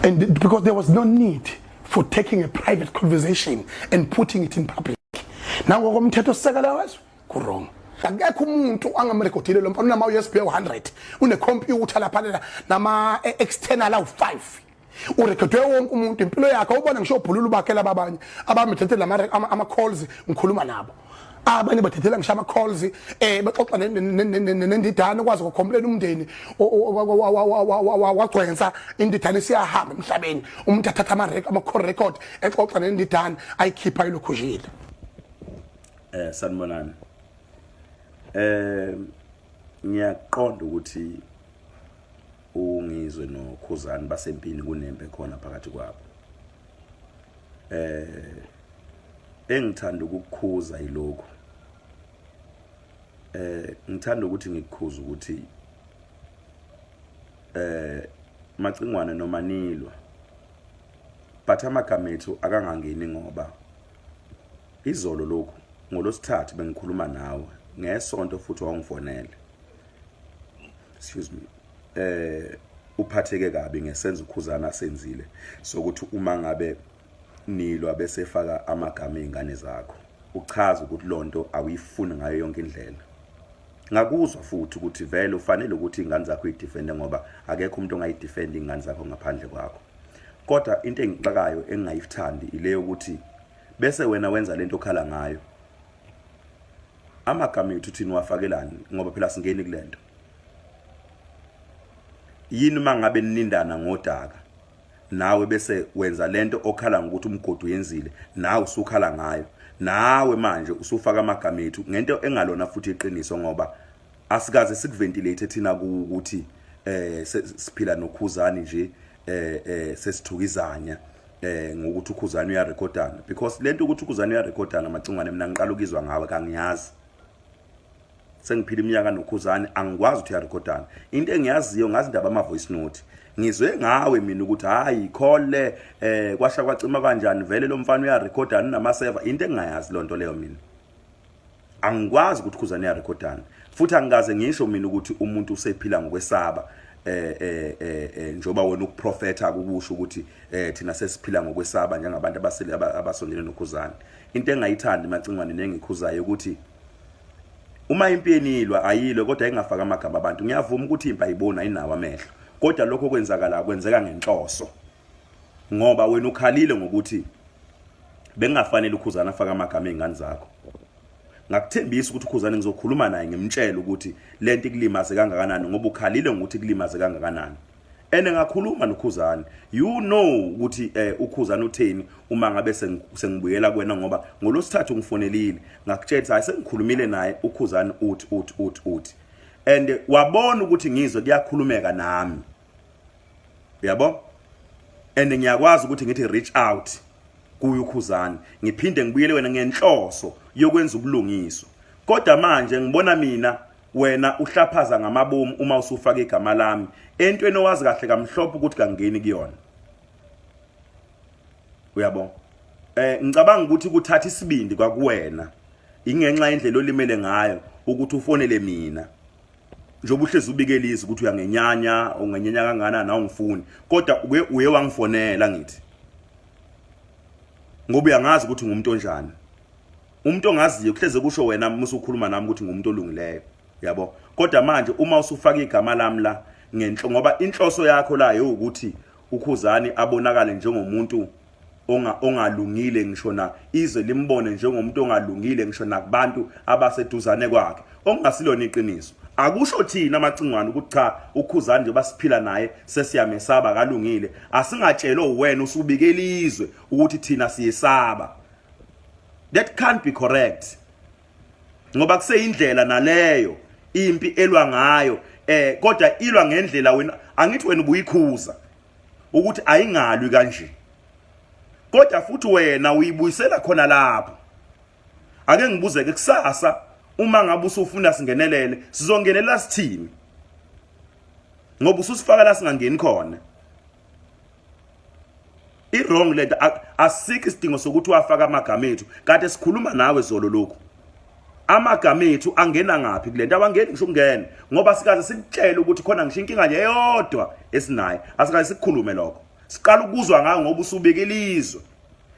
And because there was no need for taking a private conversation and putting it in public. Nango komthetho sisekela wezwe ku wrong. akekho umuntu angamrekhodile lo mfana unama USB 100 une computer lapha la nama e, external awu 5 urekhodwe wonke umuntu impilo yakhe ubona ngisho ubhululu bakhe lababanye abamethethela ama calls ngikhuluma nabo abanye bathathela ngisho ama calls eh baxoxa nendidane ukwazi ukukhombela umndeni wagcwensa indidane siyahamba emhlabeni umuntu athatha ama record ama call record exoxa nendidane ayikhipha ilokhujile eh sanibonani eh ngiyaqonda ukuthi ungizwe nokhuzani basempini kunembe khona phakathi kwabo eh engithanda ukukukhuza yilokho eh ngithanda ukuthi ngikukhuza ukuthi eh macingwane noma nilwa but amagama ethu akangangeni ngoba izolo lokhu ngolosithathu bengikhuluma nawe ngesonto futhi wangifonele excuse me eh uphatheke kabi ngesenzo ukhuzana asenzile sokuthi uma ngabe nilwa bese faka amagama ezingane zakho uchaza ukuthi lonto awuyifuni ngayo yonke indlela ngakuzwa futhi ukuthi vele ufanele ukuthi ingane zakho idefende ngoba akekho umuntu ongayidefend ingane zakho ngaphandle kwakho kodwa into engixakayo engingayithandi ile yokuthi bese wena wenza lento okhala ngayo amagama ethu thina wafakelani ngoba phela singeni kulento yini mangabe ninindana ngodaka nawe bese wenza lento okhala ngokuthi umgodi uyenzile nawe usukhala ngayo nawe manje usufaka amagama ethu ngento engalona futhi iqiniso ngoba asikaze sikuventilate thina ukuthi eh siphila nokhuzani nje eh eh sesithukizanya eh ngokuthi ukhuzani uyarekhodana because lento ukuthi ukhuzani uyarekhodana macingwane mina ngiqala ukizwa ngawe kangiyazi sengiphila iminyaka nokhuzane angikwazi ukuthi uyarekhodana into engiyaziyo ngazi indaba ama voice note ngizwe ngawe mina ukuthi hayi khole eh kwasha kwacima kanjani vele lo mfana uyarekhodana nama server into engingayazi lonto leyo mina angikwazi ukuthi khuzane uyarekhodana futhi angikaze ngisho mina ukuthi umuntu usephila ngokwesaba eh eh eh, eh njoba wena ukuprofetha ukusho ukuthi eh thina sesiphila ngokwesaba njengabantu abasile abasondele nokhuzana Into engayithandi macingwane nengikhuzayo ukuthi uma impi yenilwa ayilwe kodwa ingafaka amagama abantu ngiyavuma ukuthi impi ayiboni ayinawo amehlo kodwa lokho kwenzakala kwenzeka ngenhloso ngoba wena ukhalile ngokuthi bengafanele ukhuzana afaka amagama ezingane zakho ngakuthembisa ukuthi ukhuzane ngizokhuluma naye ngimtshele ukuthi lento ikulimaze kangakanani ngoba ukhalile ngokuthi kulimaze kangakanani ene ngakhuluma nokhuzani you know ukuthi eh ukhuzani utheni uma ngabe sengibuyela kwena ngoba ngolosithathu ngifonelile ngakutshela ukuthi hayi sengikhulumile naye ukhuzani uthi uthi uthi uthi and wabona ukuthi ngizwe kuyakhulumeka nami yabo and ngiyakwazi ukuthi ngithi reach out kuye ukhuzani ngiphinde ngibuyele wena ngenhloso yokwenza ubulungiswa kodwa manje ngibona mina wena uhlaphaza ngamabomu uma usufaka igama lami entweni owazi kahle kamhlophe ukuthi kangeni kuyona uyabo eh ngicabanga ukuthi kuthatha isibindi kwakuwena ingenxa indlela olimele ngayo ukuthi ufonele mina njengoba uhlezi ubikela izwi ukuthi uyangenyanya ungenyanya kangana nawe ngifuni kodwa uke uye wangifonela ngithi ngoba uyangazi ukuthi ngumuntu onjani umuntu ongaziyo kuhleze kusho wena musu ukhuluma nami ukuthi ngumuntu olungileyo yabo kodwa manje uma usufaka igama lami la ngenhlo ngoba inhloso yakho la ukuthi ukhuzani abonakale njengomuntu onga ongalungile ngisho na izwe limbone njengomuntu ongalungile ngisho nakubantu abaseduzane kwakhe okungasilona iqiniso akusho thina amacingwane ukuthi cha ukhuzani nje basiphila naye sesiyamesaba kalungile asingatshelwe wena usubikela izwe ukuthi thina siyesaba that can't be correct ngoba kuseyindlela naleyo impi elwa ngayo eh kodwa ilwa ngendlela wena angithi wena ubuyikhuza ukuthi ayingalwi kanje kodwa futhi wena uyibuyisela khona lapho ake ngibuze ke kusasa uma ngabe usufuna singenelele sizongenela sithini ngoba ususifaka la singangeni khona i wrong lento asike isidingo sokuthi wafaka amagama ethu kade sikhuluma nawe zolo lokhu amagama ethu angena ngaphi kulento awangeni ngisho ukungena ngoba sikaze sikutshele ukuthi khona ngisho inkinga nje eyodwa esinayo asikaze sikukhulume lokho siqala ukuzwa ngayo ngoba usubika ilizwe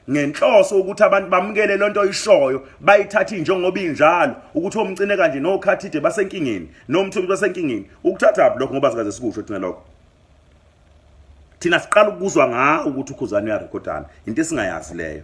ngenhloso ukuthi abantu bamukele lento oyishoyo bayithathe njengoba injalo ukuthi omcine kanje nokhathide basenkingeni nomthubi basenkingeni ukuthatha lokho ngoba sikaze sikusho thina lokho thina siqala ukuzwa ngawo ukuthi ukhuzane uyarekhodana into esingayazi leyo